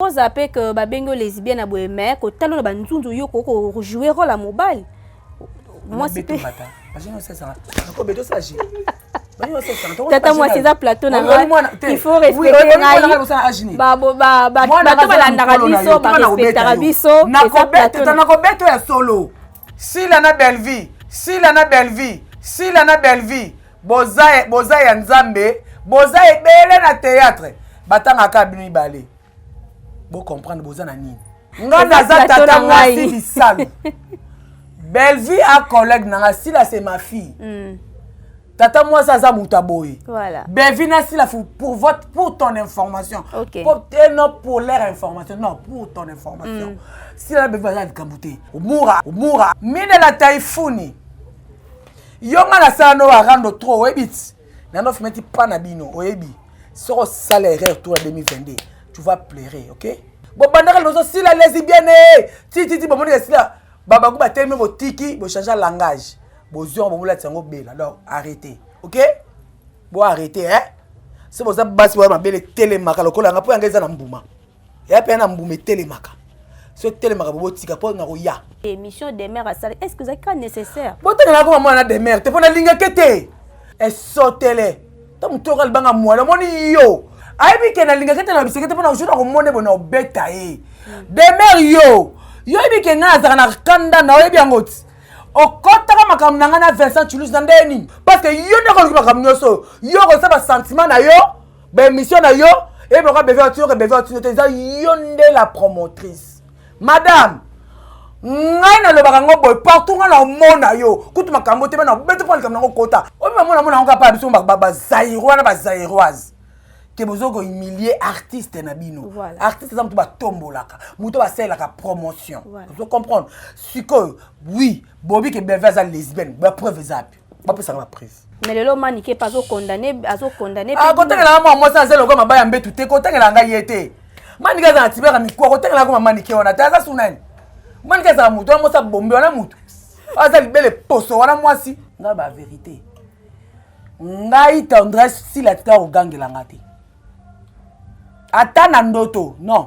oza pe que babengi yo lesbienne ya boye me kotalo na banzunzu yo okoki kojouer role ya mobali mwasi pe tata mwasi eza plateau na ngai il faut respecter ngai bato balandaka biso barespectaka biso eza plateau nakobeta ya solo sila na bellevie sila na bellevie sila na bellevie boza boza ya nzambe boza ebele na théâtre batangaka bino mibale bocomprendre boza na nini nga naza tata mwasi bisalu bellevue a collègue nanga sila c'est ma fille mm. tata mwasi aza moto aboye voilà. bellevue na sila pour, votre, pour ton information okay. pour, eh, non pour leur information non pour ton information mm. sila na bellevue aza likambo te omura omura minela taifuni yo nga nasala no arando trop oyebi ti nano fimeti pa na bino oyebi soki osala erreur tour ya 2022 tu vas pleurer ok bobandaka liboso sila lesibiene tititi bomoni esila babango batelemi botiki bochange langage bozwi yango bobolatisa yango bela donc arrete ok bo arrete eh so boza basi boya mabele telemaka lokola yanga mpo yanga eza na mbuma ya pe na mbuma etelemaka so etelemaka bobo tika po na koya émission demeure asala est ce que ozalaki ka nécessaire botanga na koma mwana na demeure te mpo nalingaki te esotele to motu oka libanga mwala omoni yo ayebi ke nalingaki te na biseke te mpo na jour na komona ebo na obeta ye demeure yo yo yebi ke ngai nazalaka na kanda na oyebi yango ti okotaka makambo na ngai na vincent chulus na ndenge nini parce que yo nde okoluki makambo nyonso oyo yo okozisa basentiment na yo ba émission na yo et pourquoi beve otino que beve otino te eza yo nde la promotrice madame ngai nalobaka yango boye partout ngai naomona yo kutu makambo te bana bete mpo likambo nango kota oyo bamona mona yango kapa biso bazairois na bazairoise ke bozo kohumilie artiste na bino voilà. artiste eza moto batombolaka moto basalelaka promotion voilà. ozo comprendre sikoyo oui bobi ke beve aza lesbienne bapreuve eza api bapesaka ba prise mais lelo manike mpe azokondane azokondane ah, kotangelaka mwa mwasi aza lokola maba ya mbetu te kotangelaka ngai ye te manike aza na tibaka mikuwa kotangelaka koma manike wana te aza su nani manike azala motu wana mwasi abombe wana motu aza libele poso wana mwasi ngai ba verité ngai tendresse sila tika kogangela nga te ata na ndoto non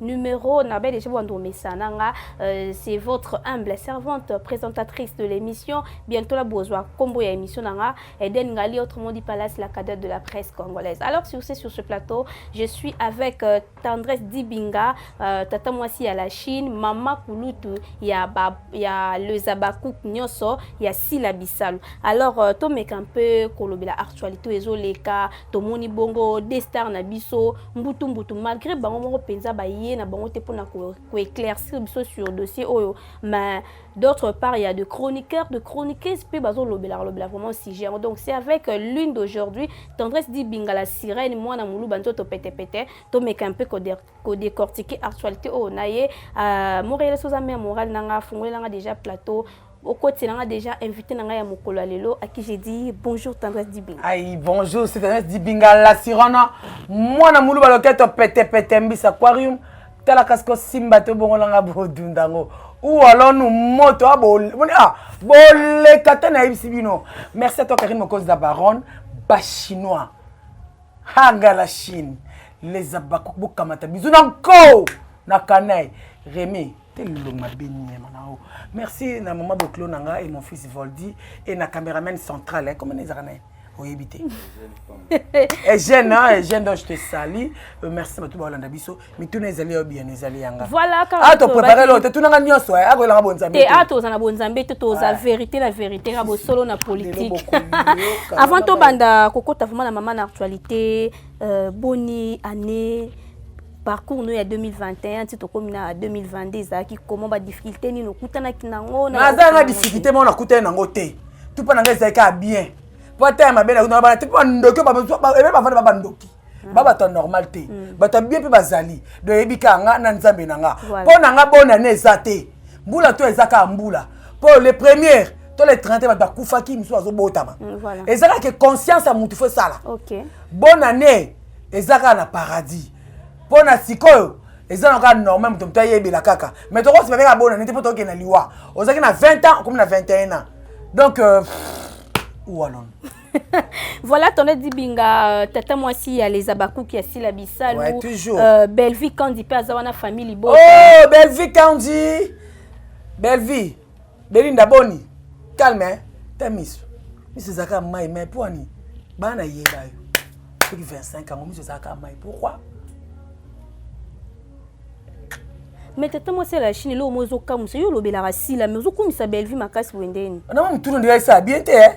numero na belle ejebo ando mesana nga euh, c'est votre humble servante présentatrice de l'émission bientôt la bozwa combo ya émission na nga Eden Ngali autrement dit Palace la cadette de la presse congolaise alors si vous êtes sur ce plateau je suis avec euh, Tendresse Dibinga euh, tata mwasi ya la Chine mama kulutu ya ba ya le Zabakouk nyoso ya Sila Bisalu alors euh, to meka un peu kolobela actualité ezo leka tomoni bongo de star na biso mbutu mbutu malgré bango moko mpenza baye na bango te mpona koeclaircir biso sur dossier oyo mais d'autre part ya de chroniqueur de chroniqueuse mpe bazolobelaka lobela vraiment sujet yango donc c'est avec euh, lune d'aujourd'hui tendresse di bingala sirène mwana moluba nzoto petepete tomeka mpe kodecortike actualité oyo na ye euh, moreele soza mare morale na nga afungolela nga déjà plateau okotela nga déjà invité na ngai ya mokolo ya lelo à qui j'ai dit bonjour tendresse dibinga ai bonjour c'est tendresse dibinga la sirona mwana muluba loketo pete pete mbisa aquarium tala kasi kosimba to bongola nga bodunda yango ou alors nous moto ah, ah, boleka te nayebisi bino merci à toi karine mokozi la baronne bachinois hanga la chine les abakuk bokamata bizu na nko na kanai remi Quel long ma bénie manao. Merci na maman Boclo nanga et mon fils Voldy et na cameraman central. Hein, comment les arnaques oyebi te eugène eugène donc je te sali euh, merci bato baolanda biso mituna ezali yo biyano ezali yanga a toprépare loo te tunanga nyonso akoyelanga bonzambe te a toza na bonzambe te toza vérité na vérité na bosolo na politique avant tobanda kokota vraiment na mama na actualité euh, boni année parcours no ya 2021 ti tokomi na 2022 ezalaki comment ba difficulté nini okutanaki nango naza na difficulté moko nakutani nango te tupa na ngai ezalaki kaka bien po ata ya mabe nakutana bana te po bandoki ebe bavanda ba bandoki hmm. ba bato ya normal te hmm. bato ya bien mpe bazali doyebi kaka nga na nzambe na nga mpo na nga bona ne eza te mbula to eza kaka mbula mpo le première to le 30 bato bakufaki misusu bazobotama hmm, eza kaka ke conscience ya motu fo esala bonne année eza kaka na paradis mpo na sikoyo eza na kaka normal moto moto ayebela kaka mais tokosipa mpe kaka bona nete mpo tokende na liwa ozalaki na 20 ans okomi na 21 ans donc euh, ualon voilà tonne dibinga euh, tata mwasi ya les abakuki ya sila bisalu ouais, toujours. Euh, bellevie kandi mpe aza wana famille libota oh, bellevie kandi bellevie Belinda boni calme hein ta misu misu ezalaka mai mai mpo ani bana yeba yo soki 25 yango misu ezalaka mai pourquoi me tata mwasi ya la chine eloko moko ezokamwisa yo olobelaka sila me ozokumisa bellevue makasi boye ndeni na mwa motuna ndeya esala bien te eh?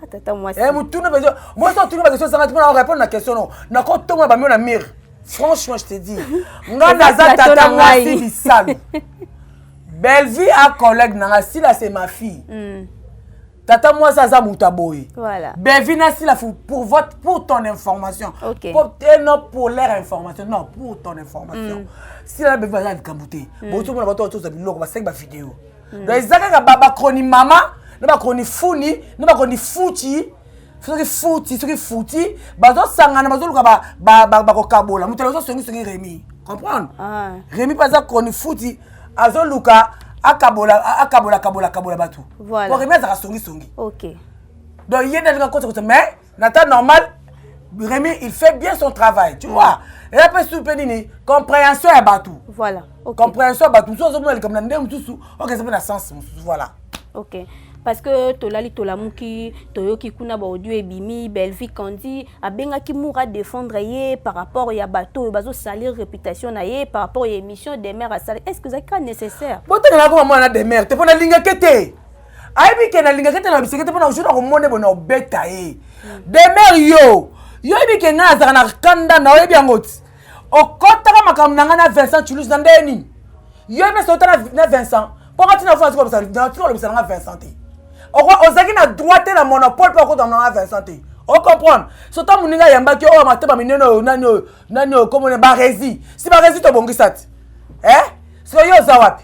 ah, tata mwasi eh, motuna mpenza mwasi otuna bakestion ezanga ti mpona orepondre na question no nakotongola bamio na mire franchement je te dis ngai naza tata mwasi bisalu Bellevue a collègue na nga sila c'est ma fille. Mm. tata mwasi aza moto ya boye voilà. bevina silafu pour, votre, pour ton information okay. pour, eh, non pour leur information non pour ton information mm. sila na bevina aza likambo te mm. botomona bato batoza biloko basengi bavideo mm. donc eza kaka bacroni mama na bacroni funi na bacroni futi soki futi soki futi bazosangana bazoluka bakokabola moto aza songisongi remi comprendre ah. remi mpe aza kroni futi azoluka akabola akabola akabola akabola bato po remi azaka songisongi donc ye nde alinga kosakosa mais na temps normal remi il fait bien son travail tu mm. vois eya mpe susu mpe nini compréhension ya bato voilà compréhension ya bato mosusu azomona likambo na ndenge mosusu okesa mpe na sens mosusu voilà ok parce que tolali tolamuki toyoki kuna baaudio ebimi bellevie kandi abengaki mur a défendre ye par rapport ya bato oyo bazosalir réputation na ye par rapport ya émission demeure asali est ce que ezalaki ka nécessaire botanela koma mwana demeure te mpo nalingaki te ayebi ke nalingaki te na biseke te mpo na jour nakomona ebona obeta ye demeure yo yo yebi ke ngai azalaka na kanda na oyebi yango ti okotaka makambo na ngai na vincent chulus na ndenge nini yo mpe ota na vincent mpo nga ntina fona tikolobisa na nga vincent te ozalaki na droit te na monopole mpo okotama na nga vincent te ocomprendre sota moninga ayambaki oyo matema minene oyo nani oyo nani oyo komona baresi si baresi tobongisa ti e eh? sikoyo yo oza wapi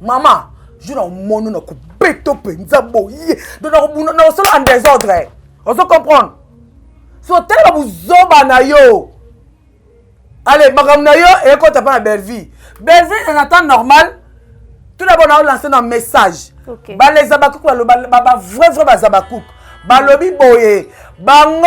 Maman, je na mono na kubeto penza boye. Donc na kubuna na solo en désordre. On se comprendre. So tellement vous zoba na yo. Allez, makambo na yo ekota pa na Bellevue. Bellevue en temps normal. Tout d'abord na lancer un message. Okay. Ba les abakouk ba ba vrai vrai ba abakouk. Balobi boye. Bango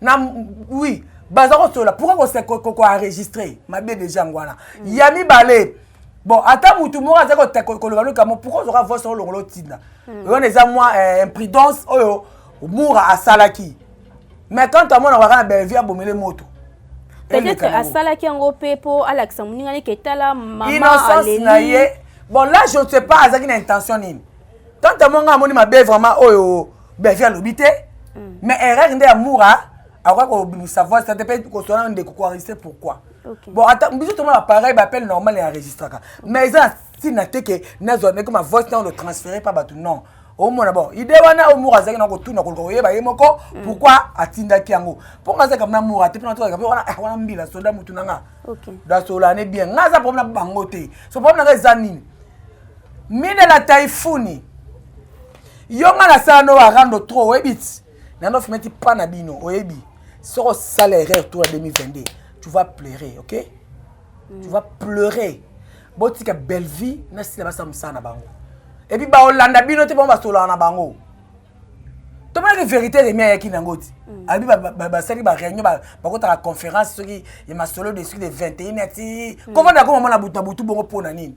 na oui baza kosolola pourkoi koenregistre mabe deja yango wana mm. ya mibale bon ata mutu moko azali koloba lokamo pourkoi ozoka voice yango longola otinda mm. wana eza mwa eh, imprudence oyo mura asalaki mais quand amona kaka na bellevie abomele moto peut-être asalaki yango mpe mpo alakisa moninga neke etala mamainocence na ye bon là je ne sais pas azalaki na intention nini quand amona nga amoni mabe vraiment oyo oh, Bellevue alobi te mais erreur nde ya mura akoki kobimisa voice te mpe koswana ndeko koenregistre pourquoi bon ata biso tomona pareil baappel normal ya enregistraka mais eza na ntina te ke nazwa meke ma voice nao transfere mpa bato non omona bon ide wana oyo mura azalaki na kotuna koluka koyeba ye moko mm. pourkui atindaki yango mpo nga azalaka na mura te mpona tozalaka mpe wana ah, wana mbila soda motu na nga dasolane bien nga aza problème na bango te so problème na nga eza nini mina na taifuni yo nga nasala no arando trop oyebi ti nano fimeti pa na bino oyebi soki osala erreur tour ya 2022 tu vas pleurer ok mm. tu vas pleurer botika bellevie na sila basala mosala na bango epuis baolanda bino te bango basolaka na bango tomonaki vérité remi ayaki nango ti mm. abi basali baréunion bakotaka conférence soki ya masolo de suki de 21 ati mm. kovanda koma mona butu na butu bongo mpo na nini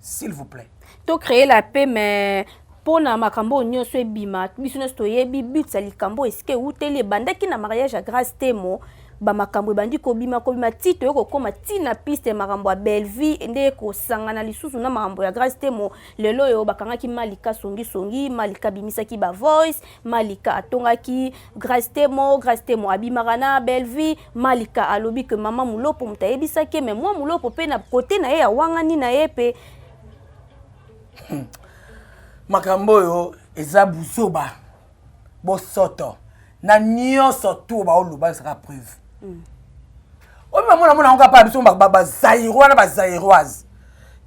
s'il vous plaît to créer la paix mais mpo na makambo oyo nyonso ebima biso nyonso toyebi but ya likambo esika ewuteli ebandaki na mariage ya grace temo bamakambo ebandi kobima kobima ti toye kokóma ti na piste makambo ya bellevie nde kosangana lisusu na makambo ya grace temo lelo oyo bakangaki malika songisongi malika abimisaki bavoice malika atongaki grace temo grace temo abimaka na bellevie Malika alobi que mama Mulopo moto ayebisaki ye mais mwa Mulopo mpe na kote na ye ya wangani na ye mpe makambo oyo eza buzoba bosoto na nyonso tu baoloba ezaka preuve mm. oyo bamona mona yango kapa biso bazairois na bazairoise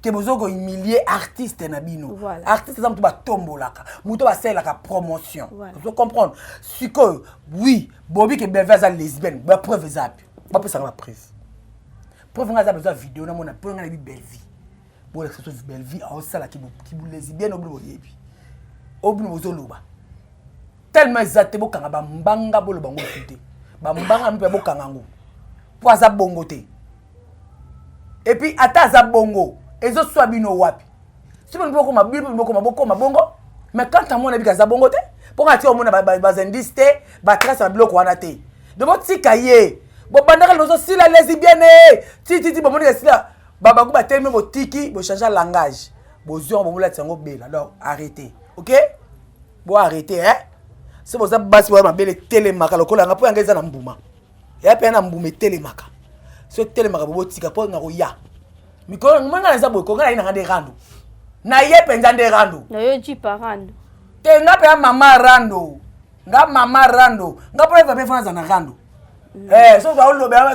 ke bozo kohumilie artiste na bino voilà. artiste eza moto batombolaka moto basalelaka promotion voilà. ozo comprendre sikoyo oui bobi ke bellevue aza lesbienne ba preuve eza api bapesaka ba preuve preuve ngai aza bezo ya video namona mpo ngai nayebi bellevue bolakisa so bellevue aosala kibulesbienne obino boyebi obino bozoloba tellement eza te bokanga bambanga boloba ngo te bambanga mpe bokanga ngo mpo aza bongo te epuis ata aza bongo ezoswa bino wapi soki bino bokoma bino mpe bokoma bokoma bongo mais quand amona yebi aza bongo te mpo nga tia omona bazindice te batrace na biloko wana te de botika ye bobandaka lozosila lesibiene eh! tititi bomoni esila babaku batelemi botiki bochange langage bozwi yango bomolatisa yango bela donc arrete ok bo arrete eh? so boza basi boya mabele telemaka lokola yanga mpo yanga eza na mbuma ya mpe na mbuma etelemaka so etelemaka bobotika mpo na koya mikolo yango mwana naza boye konga naye nanga nde rando na ye mpenza nde rando nayo jipa rando te nga mpe ya mama rando nga mama rando nga mpo eva mpe fana aza na rando mm. eh, soki aolobela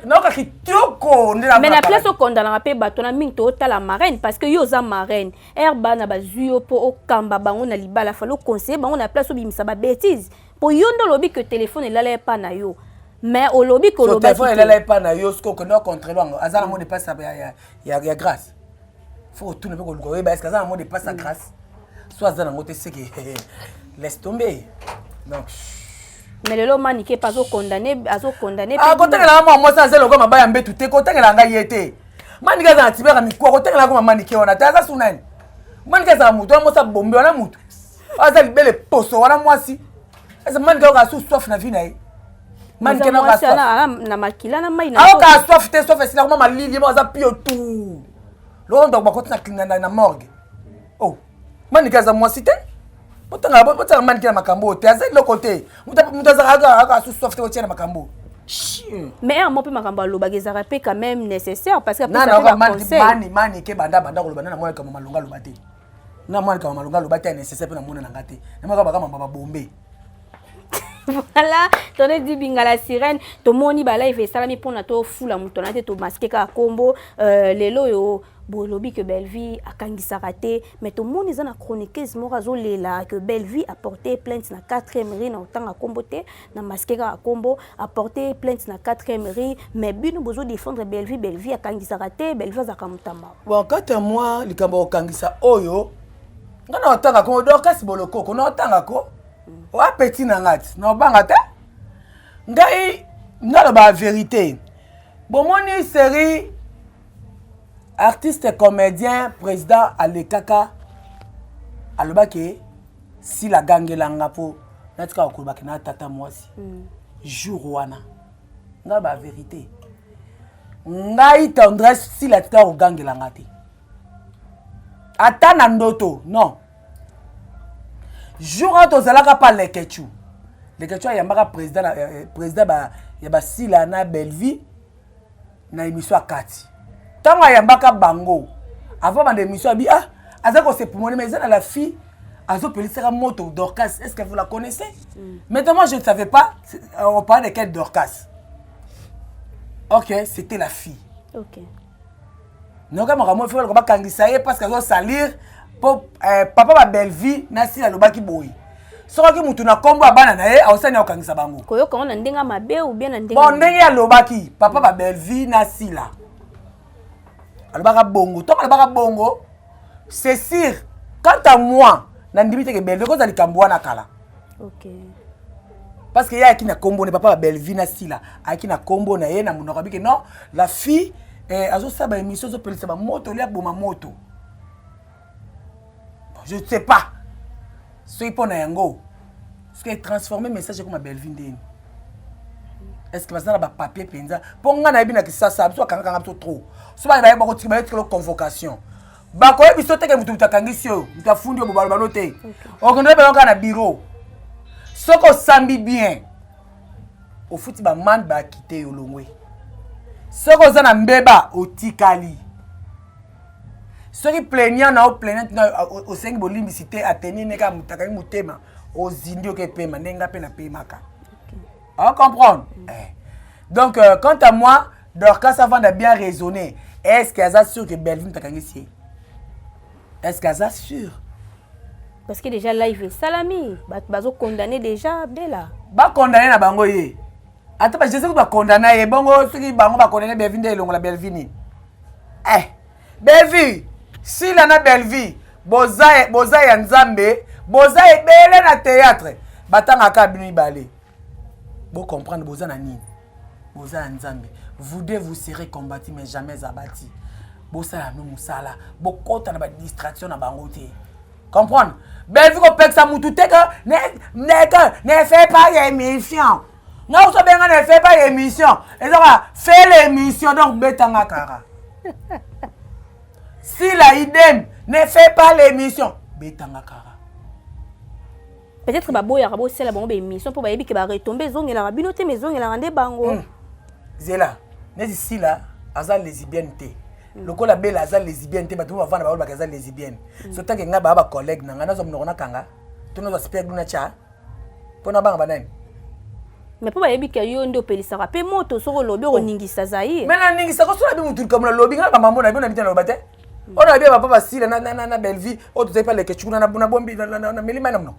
nayoka kitoko nde mais na place okondanaka mpe bato na mingi tootala marraine parce que yo oza marraine ere bana bazwi yo mpo okamba bango na libala fali oconseille bango na place obimisa babétise po yo nde olobi ke telefone elala epa na yo mais olobi ke olobaki telefone elala epa na yo soki okende ocontrele yango aza na mode epasi ya grâce fo otuna mpe koluka oyeba eske aza na mode epasi ya grâce so aza nango te seke laisse tombe donc mais lelo manike mpe azokondane azokondane akotakela ah, mwa mwasi aza eloko mabaya mbetu te kotakela ngai ye te manike aza na tibaka mikua kotakela yango mamanike wana te aza sunani manike azala motu wana mwasi abombi wana motu aza libele poso wana mwasi eza mani kaka asu soif na vie na ye mani kena kaka soif na makila na mai na ako kaka soif te soif esila kuma malili mo aza pio tout loko ndako bakoti na na na morgue oh mani kaka za mwasi te botanga botanga mani kena makambo oyo te aza eloko te moto azaka aka asu soif te otia na makambo mais ya mo mpe makambo alobaka ezalaka mpe quand même nécessaire parce que apesaka mpe baconseil mani mani ke banda banda koloba nana mwana kama malonga aloba te nga mwana kama malonga aloba te ya nécessaire mpe namona na nga te namaka baka mamba babombe voilà tone di bingala sirène tomoni balive esalami mpona tofula moto na te tomaske kaka nkombo euh, lelo oyo bolobi ke bellevie akangisaka te mais tomoni eza na chroniqueuse moko azolela ke bellevie aporte plainte na 4e ri na otanga nkombo te na masquer kaka kombo apporter plainte na 4e rue mais bino bozo défendre Bellevue Bellevue akangisaka te Bellevue azaka mutamba bon kati ya mwa likambo kokangisa oyo nga na otanga ko dorcas bolokoko na otanga ko oa petit na nga ti na obanga te ngai naloba verité bomoni série artiste comédien président alekaka alobaki sila agangela nga mpo natikaka kolobaki na tata mwasi mm. jour wana ngai baverité ngai tendresse sila atikaka kogangela nga te ata na ndoto non jour oyo tozalaka pa lekechu lekechu ayambaka président eh, eh, ya basila na bellevie na emission ya kati ntango ayambaka bango avant banda emission abi ah aza kosepumone mais eza na la fille azopelisaka moto dorcas est ce que vous la connaissez mm. maintenant moi je ne savais pas euh, on parlait de quelle dorcas ok c'était la fille ok noka makambo efika lokoba kangisa ye parce que azosalir po euh, papa ba bellevie na sila alobaki boye soki mutu na kombo ya bana na ye aosani akokangisa bango koyoka ngo na ndenge ya mabe ou bien na ndenge bon ndenge alobaki papa ba bellevie na sila alobaka bongo ntango alobaka bongo c'est sûr quant à moi nandimi te ke bellevie kozala likambo wana kala okay. parce que ye ayaki na kombo na papa ba bellevie na sila ayaki na kombo na ye na monoko abike non la fille eh, azosala baémission ezopelisa bamoto olia boma moto je ne sais pas soki mpo na yango soki etransforme message ekoma bellevue ndeni est ce que baza na bapapier mpenza mpo ngai nayebi na kisasa biso bakangakanga biso trop so bana baye bakotikelo convocation bakoyebi so teke moto moto akangisi oyo moto afundi oyo bobalobalo te okende bana kaka na biro soki osambi bien ofuti bamande bakite yo longwe soki oza na mbeba otikali soki plaignant na yo plaignant na osengi bolimbisi te ateni ne kaka motakaki motema ozindi oke pema ndenge nga mpe napemaka o comprendre mm. eh. donc euh, quant à moi dorcas avanda bien raisonné est ce que aza sûr que bellevue motakangisi ye est ce que aza sûr parce que déjà live esalami bato bazokondamne déjà bela bakondamne na bango ye ata ba jesus ba condamna ye bongo soki bango ba condamna belvi nde elongola belvi nini eh belvi sila na belvi boza boza ya nzambe boza ebele na théâtre batanga kaka bino mibale bo comprendre boza na nini boza ya nzambe vous deux vous serez combattu mais jamais abati bosala no mosala bokota na ba distraction na bango te comprendre bellevue kopekisa mutu te ke neke ne fait pas émission nga ozobenga ne fait pas émission eza kaka fait l'émission donc betanga kaka si la idem ne fait pas l'émission betanga kaka peut-être baboyaka bosala bango baémission mpo bayebi ke baretombe ezongelaka bino te ma ezongelaka nde bango hmm. zela neti sila aza lesibienne te lokola bela aza lesibienne te bato oyo bavanda baolobaka aza lesibienne mm. so tanke ngai baa bacollègue na ngai nazwa monoko nakanga to nazwa speg luna tya mpo nabanga banani mais mpo bayebi ke yo nde opelisaka mpe moto soki olobi okoningisa oh. zaire me naningisa kosola bi motu likambo nalobi ngai bamambo na bi na bitana loba te mm. oyo nabi ya bapa basila na bellevie oyo tozali mpe lekecukuna na buna bombi na milima na mno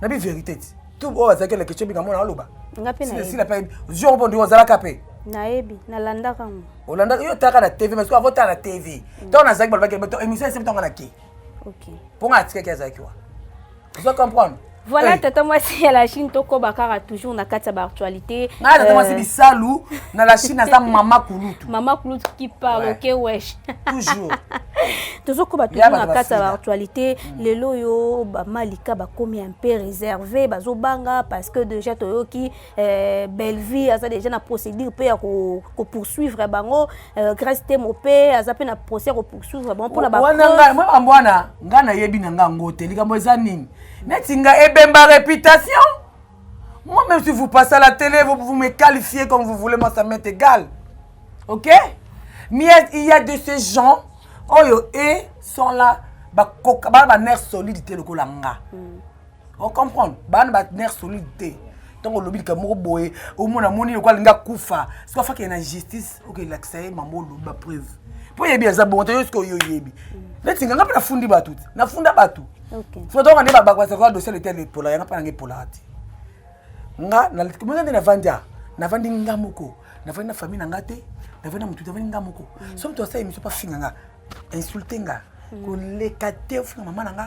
na bi verité ti tu oyo azalaki eleke tyo binga mona aloba sila mpe jour mpo ndi ozalaka mpe nayebi nalandaka yango olandaka yo otaka na tv mais avant otala na tv ntango nazalaki balobaki émission esebi ntango nake mpo nga atikaki azalaki wa ozo comprendre voilà hey. tata mwasi ya la chine tokoba kaka toujours na kati ya baactualité ngai tata mwasi euh, bisalu na la chine aza mama kulutu mama kulutu qui parle ouais. ok wesh toujours tozokoba toujours na kati ya baactualité mm. lelo oyo bamalika bakomi un peu réservé bazobanga parce que déjà toyoki Euh, Bellevue aza déjà na procédure mpe ya kopoursuivre ko bango euh, Grace Temo mpe aza mpe na procès ya kopoursuivre bango mpona bamambo wana ngai nayebi na ngai yango te likambo eza nini neti ngai ebemba réputation moi même si vous passez à la télé vous, vous me qualifiez comme vous voulez moi ça m'est égal ok mais il y a de ces gens oyo e sont là bakoka bana banerf solide te lokola nga mm. o comprendre bana ba nerf solide te ntango olobi likambo moko boye omona moni lokola alingi akufa soki afakee na justice okelakisa ye mama olobi bapreuve mpo oyebi aza bongo te yo soki oyo oyebi neti nga nga mpe nafundi bato te nafunda bato sotoka nde babakoasakola dossier letel epola yanga mpe nanga epolaka te nga nakomeka nde navandi a navandi nga moko navandi na famille na nga te navandi na motu te navandi nga moko mm. so moto asala émission mpo afinga nga insulte nga mm. koleka te ofinga mama na nga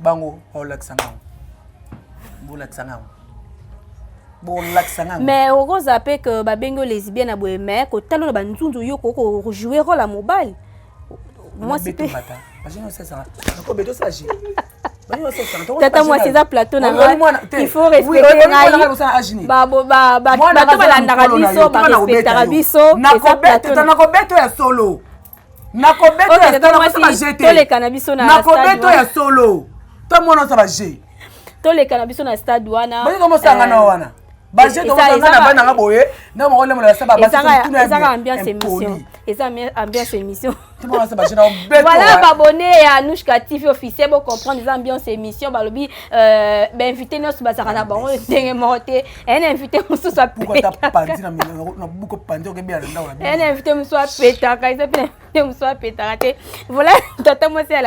bango baolakisa ngango bolakisa ngango bolakisa ngango mais okoza mpe ke babengi yo lesbienne ya boye mais kotala na banzunzu yo koki kojouer role ya mobali mwasi mpe tata mwasi eza plateau na il faut respecter ngai bato balandaka biso barespectaka biso eza plateau na kobeto ya solo nakosa ba jeu te toleka na biso na na kobeto ya solo to mona sa ba jeu toleka na biso na stade wana boni komo sanga na eh, wana ba jeu to mona na bana nga boye na mo le mola sa ba ba eza ambiance émission eza ambiance émission voilà babonne ya anushka tv officiel bo comprendre eza ambiance émission balobi euh, bainvité nyonso bazalaka na bango ndenge moko te un invité mosusu apetakaun invité mosusu apetaka eza mpe invité mosusu apetaka te vola tata mwasi ya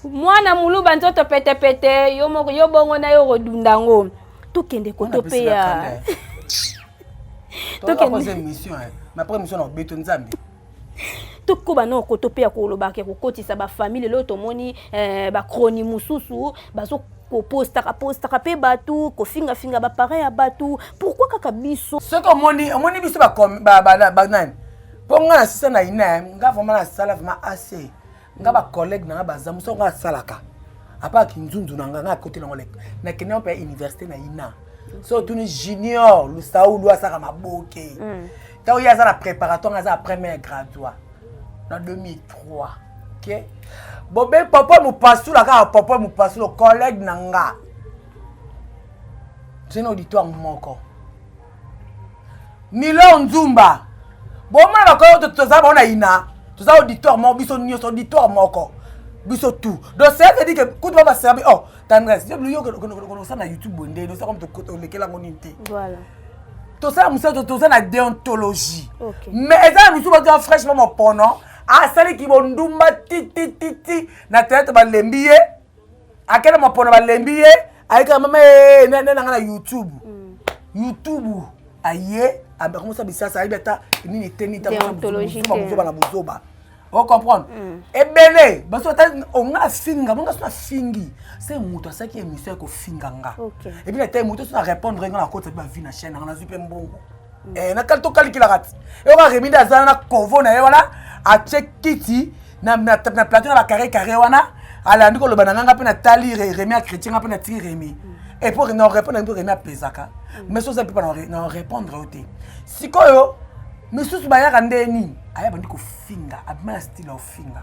mwana muluba nzoto petepete yo moko yo bongo na yo okodunda yango tokende koto mpe ya tokende tokoba na okoto mpe ya kolobaka ya kokotisa bafamile lelo tomoni eh, bakroni mosusu bazo kopostaka postaka mpe bato kofingafinga baparent ya bato pourkui kaka biso soki omoni omoni biso banani mpo ngai nasisa na ina nga vraimen nasala vraimen ase nga ba collègue na nga baza mosu yango asalaka apa kinzunzu na nga nga akoti nango lek nakende yango mpe ya université na ina so otuni junior lusaulu asaka maboke mm. ntango ye aza na préparatoire nga aza na première gradua na 2003 ok bobe papa mopasula kaka papa mopasula collègue na nga tena auditoire moko Milor Nzumba bomona bakoyo to toza bango na ina toza auditoire moko biso nyonso auditoire moko biso tout donc c'est à dire que kutu ba baserbi oh tendresse yo yo kosala na youtube boye ndeni osala comme tolekela yango nini te voilà tosala mosala toza na deontologie mais eza na misusu baza fraîchement mopono asali kibondumba titititi na teyatre balembi ye akenda mapona balembi ye ayekaka mama eh, na nanga na youtube mm. youtube aye akomisa bisasa ayebi ata nini eteni tabuzoba na buzoba o comprendre mm. ebele baso ata onga afinga bonga so afingi se moto asalaki émission ya kofinga nga ebi na tai moto so na répondre nga na koti api bavi na chaîne anga nazwi mpe mbongo mm. eh, nakali tokalikilaka ti eyoka remide azala na kovo na ye wana atie kiti na, na, na plateau na bacarré carré wana alandi koloba na nganga mpe natali remi acrétien nga mpe natiki remi epo na orépondre mpe remi apesaka mais oza mpe na orépondre yo te sikoyo misusu bayaka nde nini aya bandi kofinga abima na style ya ofinga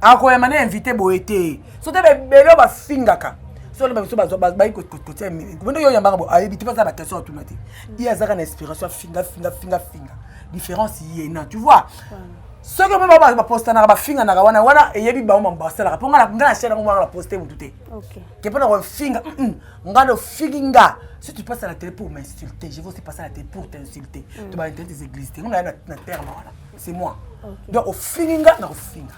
akoyama na invité boye te so te bebele oyo bafingaka solo babiso bayi kotia komende yo yambaka bo ayebi te baza bakestion atuna te ye azaka na inspiration afinga finga finga finga différence ye na tu vois soki omo bango bapostanaka bafinganaka wana wana eyebi bango bango basalaka mpo ngai na chaine yango wana baposte motu te ke mpo na kofinga ngai nofingi nga si tu passes à la télé pour m'insulter je vais aussi passer à la télé pour t'insulter mm. to ba internet des églises te ngai na terme wana c'est moi donc ofingi nga na kofinga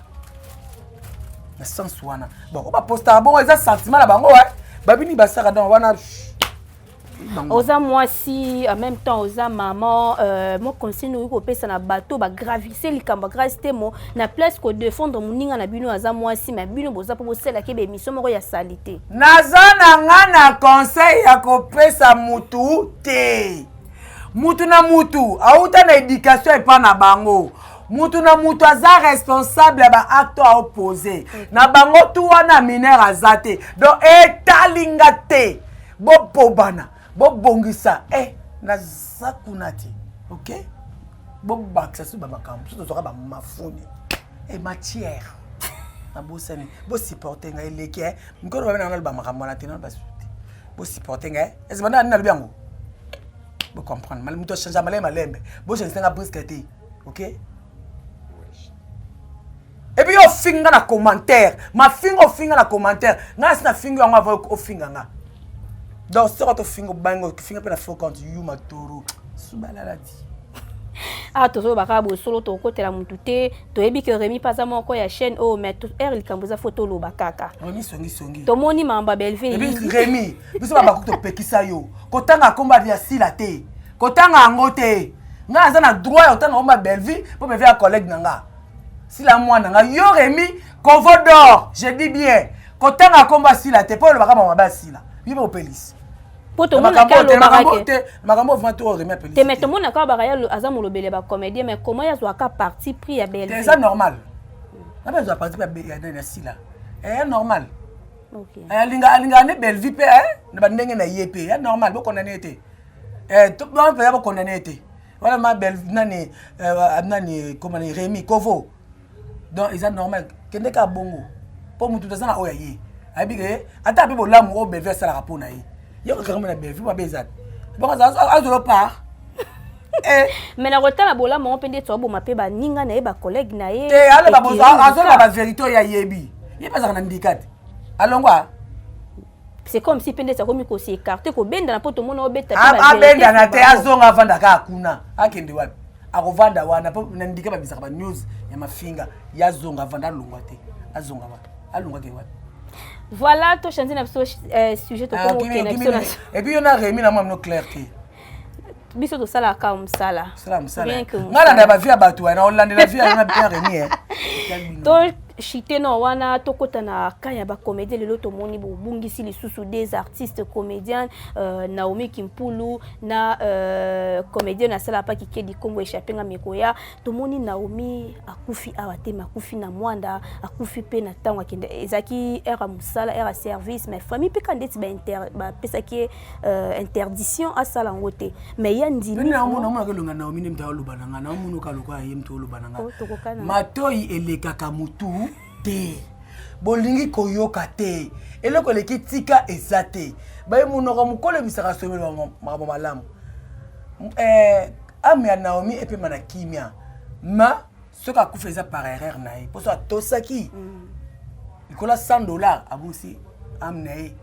na sens wana bon oyo bapostaka bongo eza sentiment na bango babini basaka donc wana oza mwasi en même temps oza maman euh, mo conseil noki kopesa na bato bagravise likambo ya grace temo na place kodefendre moninga na bino aza mwasi ma bino boza mpo bosalaki ebe émission moko ya salite naza na nga na conseil ya kopesa mutu te mutu na mutu auta na éducation epa na bango mutu na mutu aza responsable ya baacte ao pose na bango tu wana minere aza te donc etali nga te bobobana bobongisa e eh, naza kuna te ok bobakisa soki bamakambo soki tozwaka bamafuni e eh, matière nabosani bosupporte ngai eleki eh. mikolo babe nanga naloba makambo wana te nano basusu te bosupporte ngai ezibanda nani nalobi yango bocomprendre moto achange malembe malembe bochange nanga briske te ok epuis yo ofingi nga na commentaire mafinga ofinga na commentaire nga nasi na fingi yango ava ofinga nga donc soko tofinga obangi ofinga mpe na faux compte yu matoro subalaladi awa ah, tozoloba kaka bosolo tokokotela motu te toyebi ke remi mpe aza moko ya chaîne oyo oh, mais r likambo eza fo toloba kaka tomoni mambo ya belvie remi biso babaku topekisa yo kotanga nkombo ya sila te kotanga yango te ngai naza na droit ya kotanga omba bellevue mpo bellevue ya collègue na nga sila mwana nga yo remi kovo dor je dis bien kotanga nkombo asila te mpo olobaka mama mabe asila yo mpe opelisi po tomonaka alobakate makambo ovima to oremi apelisi te me tomonaka alobaka ye aza molobeli ya bacomédien mais comment ye azwaka parti pris ya belle eza normal nabe azwa parti pris ya nani asila eya normal alinga alingaka nde bellevue mpe na bandenge na ye mpe ya normal bokondane ye te eh to ba ba ba condamné te voilà ma belle nani euh, nani comment ni Rémi Kovo donc ils normal kende ka bongo po mutu tazana oya ye ayebi ke ata ape bolamu oyo bellevue asalaka mpo na ye ye kokanga na bellevue mabe eza te bongo azolo part eh. mais nakotala bolamu yango mpe nde ete aboma mpe baninga na ye bacollègue na ye eh, azoloba baverité oyo ayebi ye mpe azalaka na ndika te alongwa c'est comme si pendesi akomi kosi écarte kobendana mpo tomona obeta abendana te azonga avanda kaka kuna akende wapi akovanda wana mpo na ndike babisaka ba news ya mafinga ye azonga avanda alongwa te azonga wapi alongwa ke wapi voilà tochange na biso euh, sujet tokokende na biso na epuis yo na remi na mwa mino claire te biso tosalaka kaka mosala ngana na bavie ya bato wana olandela vie wana bien remi eh. to chite na wana tokota na ka ya bacomédien lelo tomoni bobungisi lisusu des artistes comédiens euh, naomi kimpulu na euh, comédien asala pa kikedi nkombo echappe nga mikoya tomoni naomi akufi awa te makufi na mwanda akufi mpe na ntango akende ezalaki ere ya mosala ere ya service mais famille mpe ka ndeti bapesaki ba euh, interdiction asala yango te mais ye andimiamonaka elonga naomi nde moto aloba na ngai naomonoka lokola ye moto oloba na ngai oh, matoi elekaka motu te bolingi koyoka te eloko eleki tika eza te baye monoko mokolo ebisaka someli makambo malamu eh, ame ya naomi epema na kimia ma soki akufa eza par erreur na ye mposo atosaki mm. likolo ya 100 dollar abusi ame na ye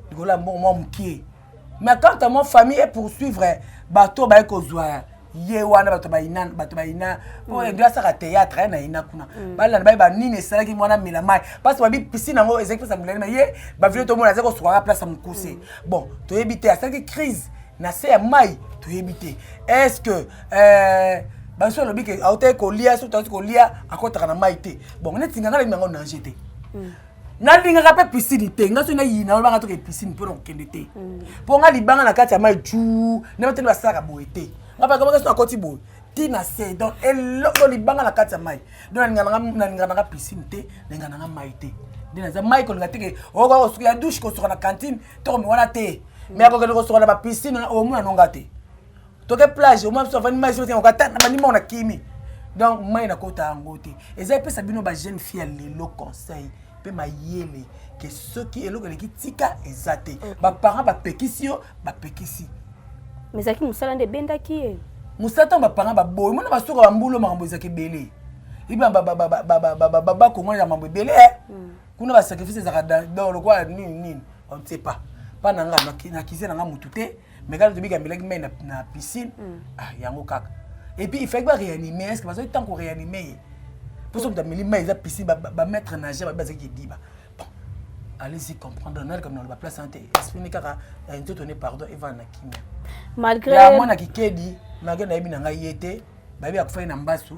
likolo ya mbongo mwa mokie mais quant à moi famille epoursuivre bato oyo baye kozwa ye wana bato bayina bato bayina mpo edo asaka théâtre ye na yina kuna balanda baye banini esalaki mwana mela mai parce babi piscine yango ezalaki place ya molali ma ye bavilo tomona azali kosukaka place ya mokuse bon toyebi te asalaki crise na se ya mai toyebi te est ce que eh, basusu alobi ke autaki kolia soki tauti kolia akotaka na mai te bon neti nga nalemi yango nage te mm. nalingaka mpe pisini te nga soki nayina olobanga toke pisini mpo na kokende te mpo mm. nga libanga na kati ya mai ju na bateli basalaka boye te nga bakamaka soki nakoti boye ti na se donc eloko libanga na kati ya mai donc nalingaka nanga pisini te nalingaka nanga mai te nde naza mai kolinga teke okoka kosuka ya dushe kosuka na cantine to komi wana te mai akokende kosuka na bapisine omona nonga te toke plage omwa biso avandi mai zote okata na bandima ona kimi donc mai nakota yango te eza epesa bino ba jeune fille ya lelo conseil mpe mayele ke soki eloko eleki tika eza te mm. baparent bapekisi yo bapekisi ezalaki mosala nde ebendaki ye mosala ntango baparent baboyi mona basuka bambulo makambo ezalaki ebele iba bakongo ya mambo ebele eh. mm. kuna basacrifice ezalaka dor lokola nini nini on ne sait pas mpa na nga nakize na nga motu te mais kaka tobika mbelaki mai na, na piscine mm. ah, yango kaka et puis il fallait baréanime est ce que bazali ntango koréanime ye mposo moto ameli mai eza piscine bamaître ba nageur babi bazalaki ediba allez-y comprendre nali kama naloba place ante espini kaka eh, nzoto ne pardon evanda na kimia malgré ya mwana kikedi malgré nayebi na ngai ye te bayebi akufaki na mbasu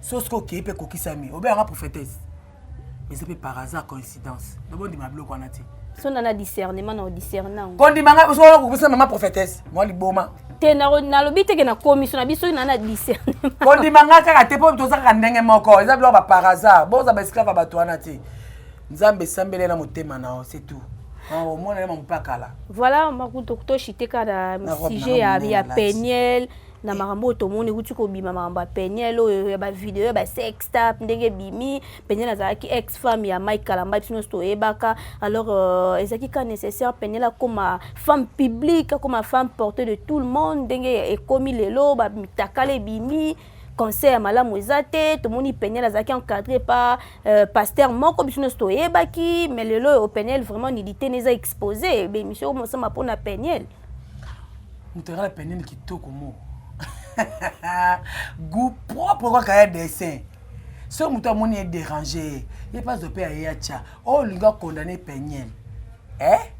so soki okei mpe kokisami obeyanga prophétesse eza mpe par hasard coïncidence nabondima biloko wana te so na na discernement na odiscerna yango kondima ngai soki okokisa mama prophétesse mwa liboma te nalobi teke na komiso na biso na na discernement kondima ngai kaka te mpo toza kaka ndenge moko eza biloko ba par hasard boza ba esclave ya bato wana te nzambe esambeli na motema na yo c'est tout omona ye mampakala voilà makuto toshiteka na sujet ya peniel na eh. makambo oyo tomoni ekuti kobima makambo ya peniel oyo ya bavideo ya basextap ndenge ebimi peniel azalaki ex femme ya mike kalamba biso nyonso toyebaka alors euh, ezalaki ka nécessaire peniel akoma femme publique akoma femme portée de tout le monde ndenge ekomi lelo bamitakala ebimi concert ya malamu eza te tomoni peniel azalaki encadré par euh, pasteur moko biso nyonso toyebaki mais lelo oyo peniel vraiment nilitene eza expose bemission omosama mpona peniel mutaka la penene kitoko mo goût propre kaka ya dessin soki moto amoni ye dérange ye ye mpe azo mpe aye atya oyo oh, olingi akondane peniele eh?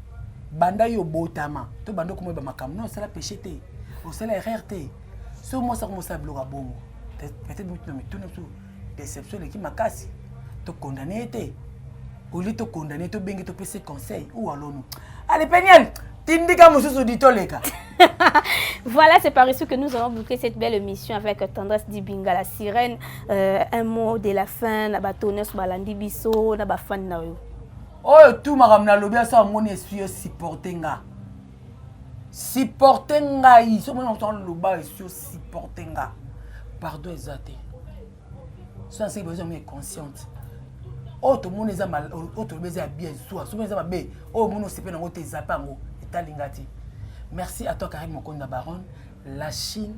banda yo obotama to banda okomoyeba makambo no osala péché te osala erreur te soki mwasi akomosala biloko ya bongo peut-être mituna mituna deception eleki makasi to condamne ye te olie to condamne ye tobengi topesi conseil ou alonu ale peniel tindika mosusu di toleka voilà, c'est par ici que nous allons boucler cette belle émission avec Tendresse Dibinga, la sirène. Euh, un mot de la fin, na ba tonnes, ba landi biso, na ba fan na yo. Oh, tout ma ramna lobia sa moni essuie supporter nga. supporte ngai soki mona moto aloba esi osupporte nga pardon eza te so naseki bazo yango inconsciente oyo tomoni eza oyo tolobi eza ya bien zuwa soki mona eza mabe oyo omoni osepe nango te ezape yango etali nga te merci à toi karine mokonda baronne la chine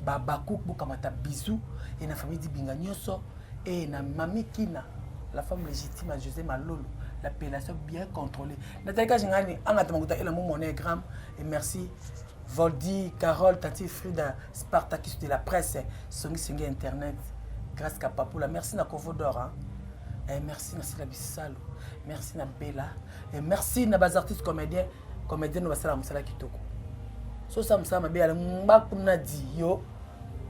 babakuk bokamata bisou e na famille dibinga nyonso e na mami kina la femme légitime ya josé malolo l'appellation bien contrôlée Nathalie Kajingani, angata makuta ela mon monogramme et merci Voldy, Carole, Tati Frida, Spartacus de la presse, Songi Songi Internet, grâce à Papoula. Merci na Kovo d'Or. Hein. Eh, merci na Sila Bissalo. Merci na Bella. Eh, merci na bas artistes comédiens, comédiens na basala musala kitoko. So sa musala mabe ala mbakuna di yo.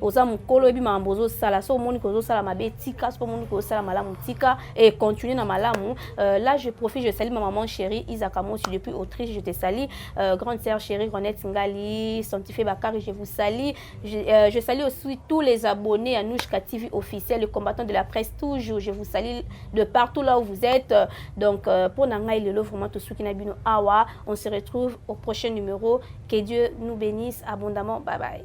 oza mokolo oyebi makambo ozosala so omoni ke ozosala mabe tika soki omoni ke osala malamu tika e continue na malamu euh, là je profite je sali ma maman chérie isaka mosi depuis autriche je te sali euh, grande sœur chérie renette ngali sanctifie bakari je vous sali je, euh, je sali aussi tous les abonnés à nouchka tv officiel le combattant de la presse toujours je vous sali de partout là où vous êtes donc euh, mpo na ngai lelo vraiment tosuki na bino awa on se retrouve au prochain numéro Que Dieu nous benisse abondamment. Bye bye.